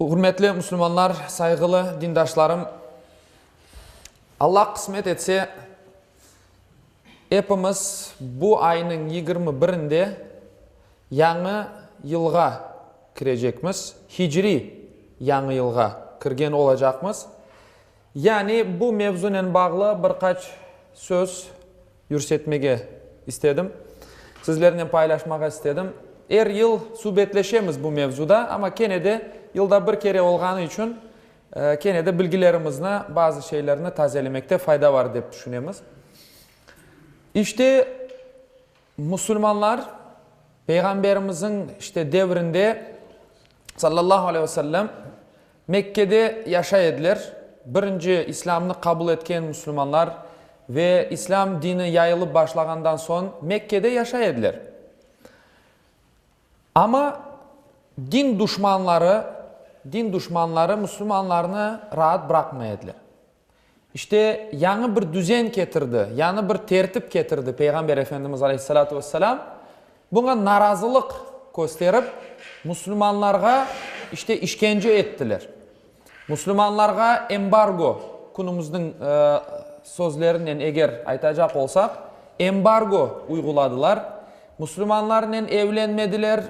Ürmetli müslümanlar, sayğılı dindaşlarım! Alla qısmet etse, epimiz bu aynıñ yigirmi birinde Yañı yılğa kirecekmiz, hicri Yañı yılğa kirgen olacaqmız. Yani bu mevzunen bağlı bir qaç söz yürsetmege istedim, sizlernen paylaşmağa istedim. Er yıl subetleşemiz bu mevzuda, amma kene de yılda bir kere olğanı içün kene de bilgilerimizni, bazı şeylerni tazelemekte fayda bar dep tüşünemiz. İşte, Musulmanlar Peyğamberimizin işte devrinde sallallahu aleyh ve sellem Mekkede yaşay ediler. Birinci İslâmnı qabul etken musulmanlar ve İslâm dini yayılıp başlağandan soñ Mekkede yaşay ediler. Amma din duşmanları, din duşmanları musulmanlarnı raat bıraqmay ediler. İşte, yañı bir düzen ketirdi, yañı bir tertip ketirdi Peyğamber Efendimiz aleyhissalâtu vesselâm. Buña narazılıq kösterip, musulmanlarğa, işte, işkence ettiler. Musulmanlarğa embargo, künümizniñ sözlerinen eger aytacaq olsaq, embargo uyğuladılar. Musulmanlarnen evlenmediler,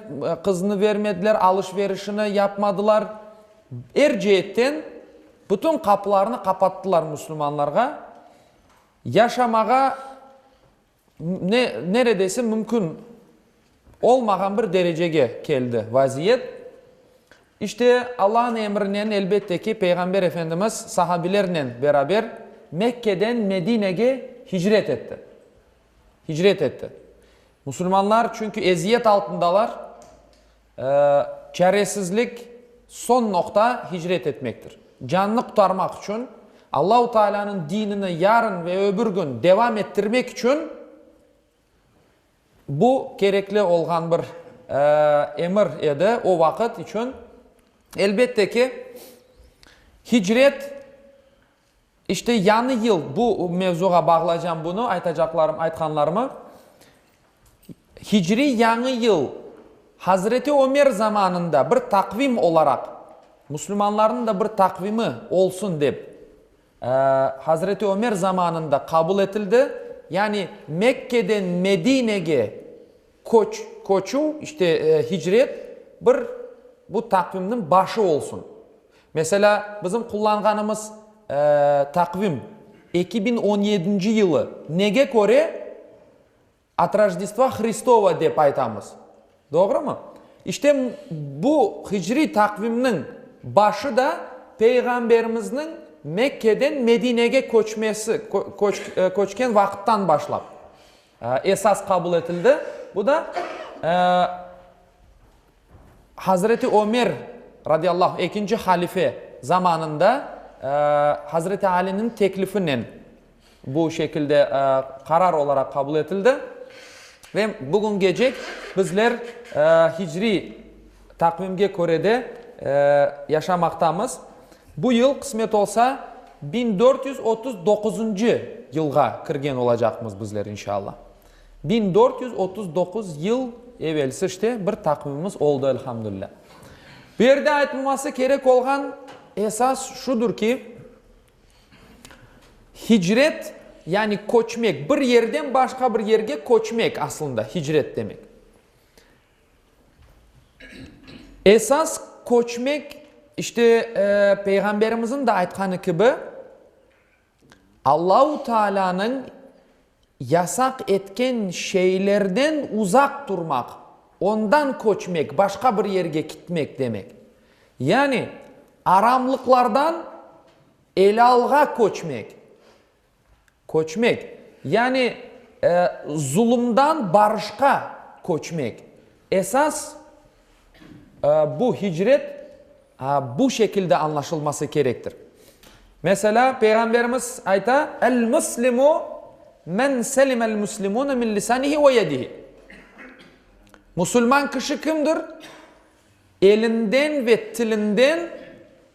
qıznı bermediler, alış-verişini yapmadılar. Er ceetten Bütün qapılarını qapattılar müslümanlarğa, yaşamağa ne, neredeyse mümkün olmağan bir derecege keldi vaziyet. İşte Allah'ın emrinen, elbette ki, Peyğamber Efendimiz sahabilernen beraber Mekke'den Medinege hicret etti. Hicret etti. Müslümanlar çünkü eziyet altındalar, Çaresizlik, soñ noqta, hicret etmektir. Cannı qutarmaq içün, Allahu Taalânıñ dinini yarın ve öbür kün devam ettirmek içün bu kerekli olğan bir emir edi, o vaqıt içün. Elbette ki, hicret İşte, yañı yıl bu mevzuğa bağlaycam bunı, aytacaqlarım, aytqanlarımı. Hicriy Yañı yıl Hazreti Ömer zamanında bir taqvim olaraq, müslümanlarnıñ da bir taqvimi olsun dep, Hazreti Ömer zamanında qabul etildi. Yani Mekke'den Medinege Köç, köçüv, işte, hicret, bir bu taqvimniñ başı olsun. Meselâ, bizim qullanğanımız taqvim eki biñ on yedinci yılı, nege köre At Rojdestva Hristova dep aytamız, doğrumı? İşte, bu hicriy taqvimniñ başı da Peyğamberimizniñ Mekkeden Medinege köçmesi, köçken vaqıttan başlap. Esas qabul etildi. Bu da Hazreti Ömer, radiyallahu, ekinci halife zamanında Hazreti Aliniñ teklifinen bu şekilde qarar olaraq qabul etildi. Ve bugüngecek bizler hicri Taqvimge köre de yaşamaqtamız. Bu yıl, qısmet olsa, biñ dört yüz otuz doquzuncı yılğa kirgen olacaqmız bizler, inşalla. Biñ dört yüz otuz doquz yıl evelsi işte bir taqvimimiz oldı, elhamdülilâ. Bu yerde aytılması kerek olğan esas şudur ki, hicret, yani köçmek, bir yerden başqa bir yerge köçmek, aslında, hicret demek. Esas köçmek, işte, Peyğamberimizniñ de aytqanı kibi, Allahu Taalânıñ yasaq etken şeylerden uzaq turmaq, ondan köçmek, başqa bir yerge kitmek demek. Yani, aramlıqlardan elalğa köçmek. Köçmek, yani zulumdan barışqa köçmek. Esas bu hicret bu şekilde añlaşılması kerektir. Meselâ, Peyğamberimiz ayta, El-muslimu men selimel muslimune min lisanihi ve yedihi. Musulman kişi kimdir? Elinden ve tilinden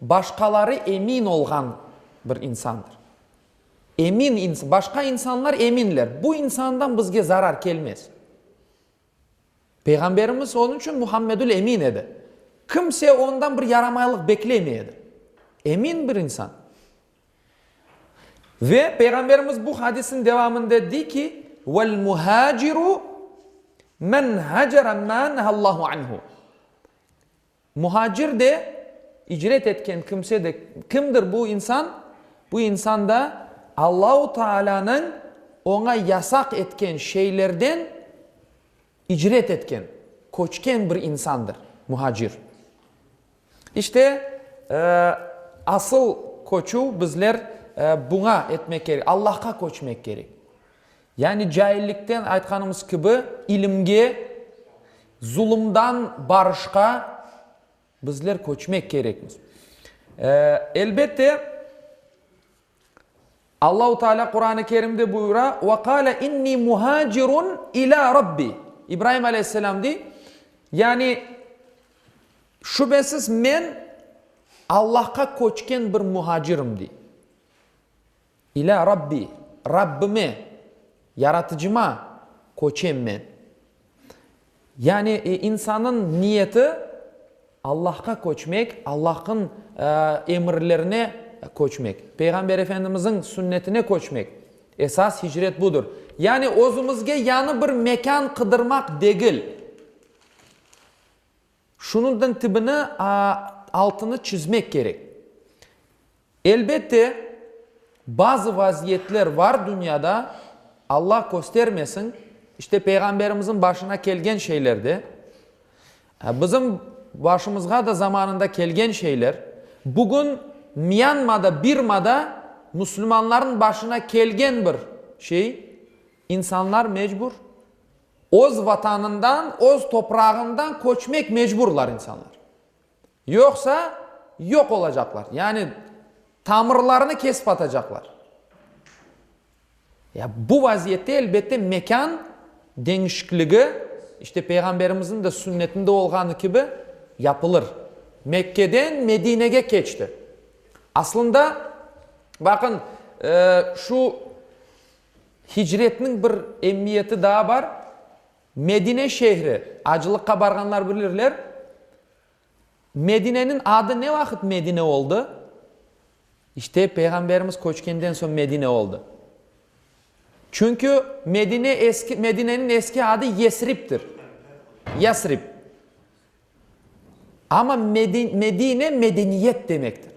başqaları emin olğan bir insandır. Emin ins, başqa insanlar eminler, bu insandan bizge zarar kelmez. Peyğamberimiz onıñ içün Muhammedül Emin edi. Kimse ondan bir yaramaylıq beklemey edi. Emin bir insan. Ve Peyğamberimiz bu hadisniñ devamında dey ki, Vel muhaciru men hacere ma nehallahu anhu, Muhacir de, icret etken kimse de, kimdir bu insan? Bu insan da Allahu Taalânıñ oña yasaq etken şeylerden icret etken, köçken bir insandır, muhacir. İşte, asıl köçüv bizler buña etmek kerek, Allahqa köçmek kerek. Yani caillikten, aytqanımız kibi, ilimge, zulumdan barışqa bizler köçmek kerekmiz. Elbette, Allahu Teala Quran-ı Kerimde buyura, Ve kâle inni muhacirun ilâ Rabbi. İbrahim aleyhisselam dey, yani, şübesiz men Allahqa köçken bir muhacirim, dey. İlâ Rabbi, Rabbime, Yaratıcıma köçem men. Yani, insannıñ niyeti, Allahqa köçmek, Allahnıñ emirlerine köçmek, Peyğamber efendimizniñ sünnetine köçmek. Esas hicret budır. Yani, özümizge yañı bir mekân qıdırmaq degil. Şunıñdan tibini altını çizmek kerek. Elbette, bazı vaziyetler var dünyada, Alla köstermesin, işte Peyğamberimizniñ başına kelgen şeyler de, bizim başımızğa da zamanında kelgen şeyler, bugün Myanmada, Birmada müslümanlarnıñ başına kelgen bir şey, insanlar mecbur Öz Vatanından, öz toprağından köçmek mecburlar insanlar. Yoqsa yoq olacaqlar, yani tamırlarını kesip atacaqlar. Ya bu vaziyette elbette mekân deñişikligi, işte Peyğamberimizniñ de sünnetinde olğanı kibi, yapılır. Mekkeden Medinege keçti. Aslında, baqıñ, şu Hicretniñ bir emiyeti daa bar, Medine şehri, acılıqqa barğanlar bilirler, Medineniñ adı ne vaqıt Medine oldı? İşte, Peyğamberimiz köçkenden soñ Medine oldı. Çünki Medine eski, Medineniñ eski adı Yesribdir. Yasrib. Amma Medine medeniyet demektir.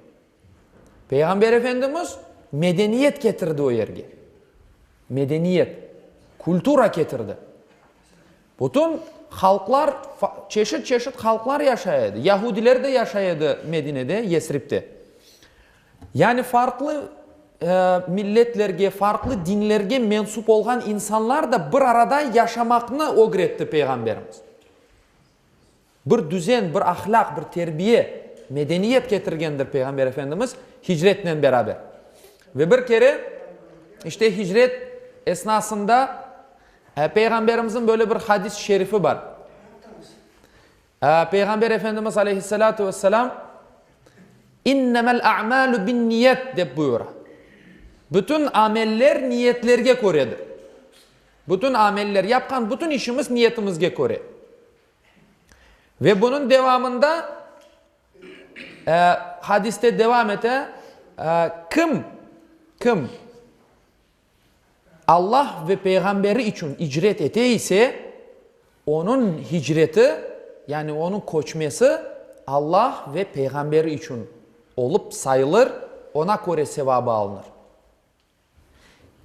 Peyğamber Efendimiz medeniyet ketirdi o yerge. Medeniyet, kultura ketirdi. Bütün halqlar, çeşit-çeşit halqlar yaşay edi. Yahudiler de yaşay edi Medinede, Yesribde. Yani farqlı milletlerge, farqlı dinlerge mensup olğan insanlar da bir arada yaşamaqnı ögretti Peyğamberimiz. Bir düzen, bir ahlâq, bir terbiye, medeniyet ketirgendir Peyğamber Efendimiz hicretnen beraber. Ve bir kere, işte, hicret esnasında Peyğamberimizin böyle bir hadis-i şerifi bar. Peyğamber Efendimiz Aleyhisselâtu Vesselam İnnemel a'mâlu binniyet dep buyura. Bütün ameller niyetlerge köredir. Bütün ameller, yapqan bütün işimiz niyetimizge köre. Ve bunıñ devamında hadiste devam ete, kim, kim Alla ve Peyğamberi içün icret ete ise, onıñ hicreti, yani onıñ köçmesi Alla ve Peyğamberi içün olıp sayılır, oña köre sevabı alınır.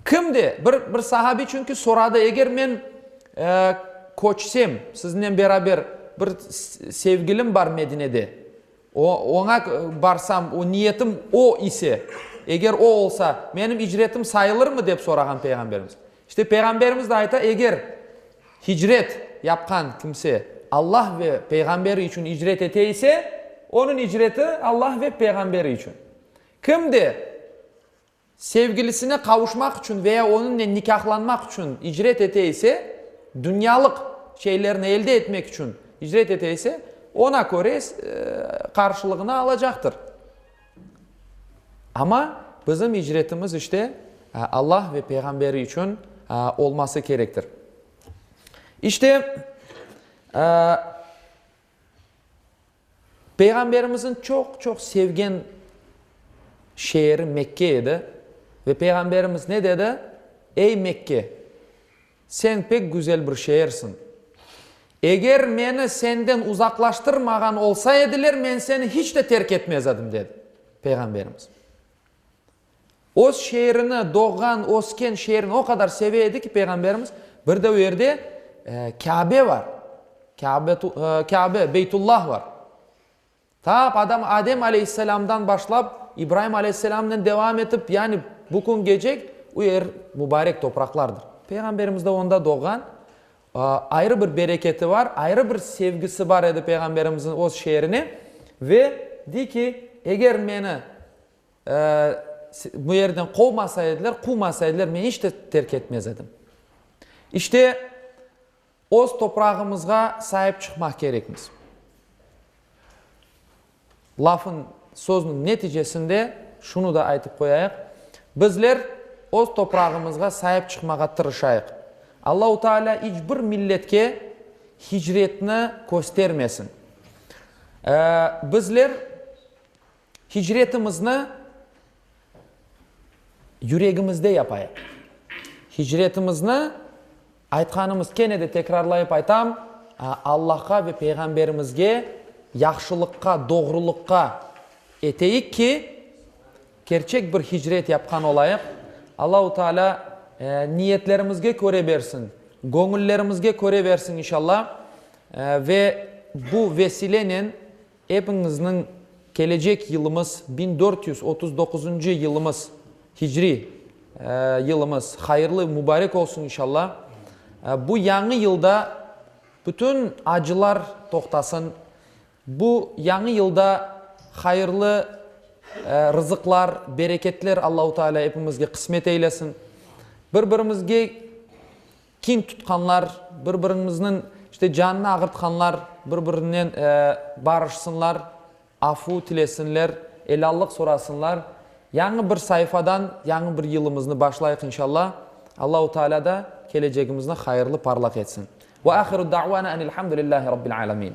Kim de, bir, bir sahabiy çünki soradı, eger men, e, köçsem, sizinnen beraber, bir sevgilim bar Medinede, o, oña barsam, o, niyetim o ise, eger o olsa, menim icretim sayılırmı? dep sorağan Peyğamberimiz. İşte, Peyğamberimiz de ayta, eger hicret yapqan kimse Alla ve Peyğamberi içün icret ete ise, onıñ icreti Alla ve Peyğamberi içün. Kim de, Sevgilisine qavuşmaq içün ve ya onıñnen nikâhlanmaq içün icret ete ise, dünyalıq şeylerni elde etmek içün icret ete ise, oña köre qarşılığını alacaqtır. Amma bizim icretimiz işte Alla ve Peyğamberi içün olması kerektir. İşte, Peyğamberimizin çoq-çoq sevgen şeeri Mekke edi ve Peyğamberimiz ne dedi, Ey Mekke, sen pek güzel bir şeersiñ. Eger meni senden uzaqlaştırmağan olsa ediler, men seni hiç de terk etmez edim, dedi Peyğamberimiz. Öz şeerini, doğğan, ösken şeerini o qadar seve edi ki, Peyğamberimiz, bir de o yerde Kâbe bar, Kâbe, Beytullah bar. Ta Adam, Adem aleyhisselamdan başlap, İbraim aleyhisselamnen devam etip, yani bu küngece o yer mübarek topraqlardır. Peyğamberimiz de onda doğğan, ayrı bir bereketi bar, ayrı bir sevgisi bar edi Peyğamberimizin öz şeerine ve dey ki, eger meni Bu yerden qovmasa ediler, quvmasa ediler, men iç de terk etmez edim. İşte, öz toprağımızğa saip çıqmaq kerekmiz. Lafın, sözniñ neticesinde şunı da aytıp qoyayıq, bizler öz toprağımızğa saip çıqmağa tırışayıq. Allahu Taalâ iç bir milletke hicretni köstermesin. Bizler Hicretimizni yüregimizde yapayıq. Hicretimizni aytqanımız, kene de tekrarlayıp aytam, Allahqa ve Peyğamberimizge, yahşılıqqa, doğruluqqa eteyik ki, kerçek bir hicret yapqan olayıq. Allahu Teala niyetlerimizge köre bersin, göñüllerimizge köre bersin inşallah. Ve bu vesilennen Epiñizniñ kelecek yılımız, biñ dört yüz otuz doquzuncı yılımız, hicri yılımız hayırlı, mübarek olsun inşalla. Bu yañı yılda bütün acılar toqtasın. Bu yañı yılda hayırlı rızıqlar, bereketler Allahu Teala epimizge qısmet eylesin. Bir-birimizge. Kin tutqanlar, bir-biriñizniñ işte canını ağırtqanlar bir-birinen barışsınlar, afu tilesinler, elâllıq sorasınlar. Yañı bir saifadan yañı bir yılımıznı başlayıq inşalla. Allahu Teala da kelecegimizni hayırlı, parlaq etsin. Ve ahiru da'vana enilhamdülillahi Rabbil alemin.